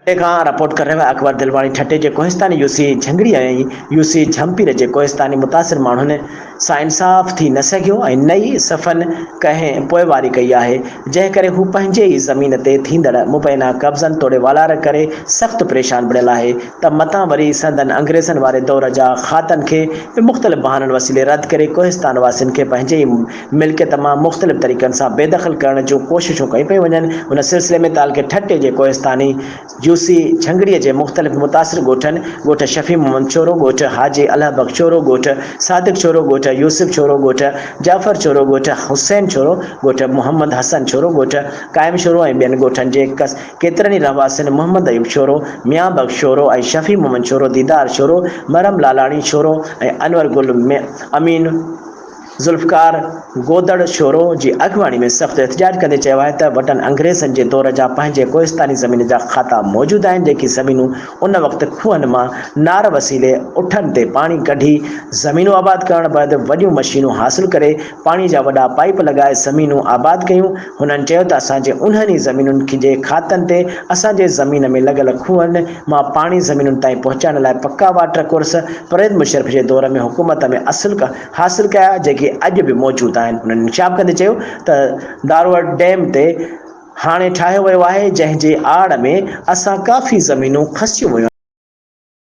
ٺٽي کان رپورٽ ڪرڻ ويا اڪبر دلواڻي ٺٽي جي Kohistani U C Jhangri ۽ U C Jhimpir جي ڪوهستاني متاثر ماڻهن سان انصاف ٿي نه سگهيو ۽ نه ئي صفن ڪنهن پوئواري ڪئي آهي جنهن ڪري هو پنهنجي ئي زمين تي ٿيندڙ مبينا قبضن توڙي والار ڪري سخت پريشان بڻيل آهي ته متان وري سندن انگريزن واري دور جا کاتن کي به مختلف بهانن وسيلي رد ڪري ڪوهستان واسين کي پنهنجي ئي ملڪيت مان مختلف طريقن سان بي دخل ڪرڻ جون ڪوششون ڪيون پيون وڃن، ان سلسلي ۾ تعلقي ٺٽي جي ڪوهستاني جوسي جهنگڙي جي مختلف متاثر ڳوٺن ڳوٺ شفيع محمد ڇورو، ڳوٺ حاجي الهه بخش ڇورو، ڳوٺ صادق ڇورو، ڳوٺ يوسف ڇورو، ڳوٺ جعفر ڇورو، ڳوٺ حسين ڇورو، ڳوٺ محمد حسن ڇورو، ڳوٺ قائم ڇورو ۽ ٻين ڳوٺن جي ڪيترن ئي رهواسين محمد ايوب ڇورو، ميان بخش ڇورو ۽ شفيع محمد ڇورو، ديدار ڇورو، مرحم لالاڻي ڇورو ۽ انور گل امين، ذوالفقار گودڙ شورو جي اڳواڻي ۾ سخت احتجاج ڪندي چيو آهي ته وٽن انگريزن جي دور جا پنهنجي ڪوهستاني زمين جا کاتا موجود آهن جيڪي زمينون ان وقت کوهن مان نار وسيلي اٺن تي پاڻي ڪڍي زمينون آباد ڪرڻ بعد وڏيون مشينون حاصل ڪري پاڻي جا وڏا پائيپ لڳائي زمينون آباد ڪيون هنن چيو ته اسان جي انهن ئي زمينن جي کاتن تي اسان جي زمين ۾ لڳل کوهن مان پاڻي زمينن تائين پهچائڻ لاء پڪا واٽر ڪورس پرويز مشرف جي دور ۾ حڪومت ۾ اصل حاصل ڪيا جيڪي اڄ به موجود آهن هنن نشاب ڪندي چيو ته داروهڙ ڊيم تي هاڻي ٺاهيو ويو آهي جنهن جي آڙ ۾ اسان ڪافي زمينون کسيون ويون آهن.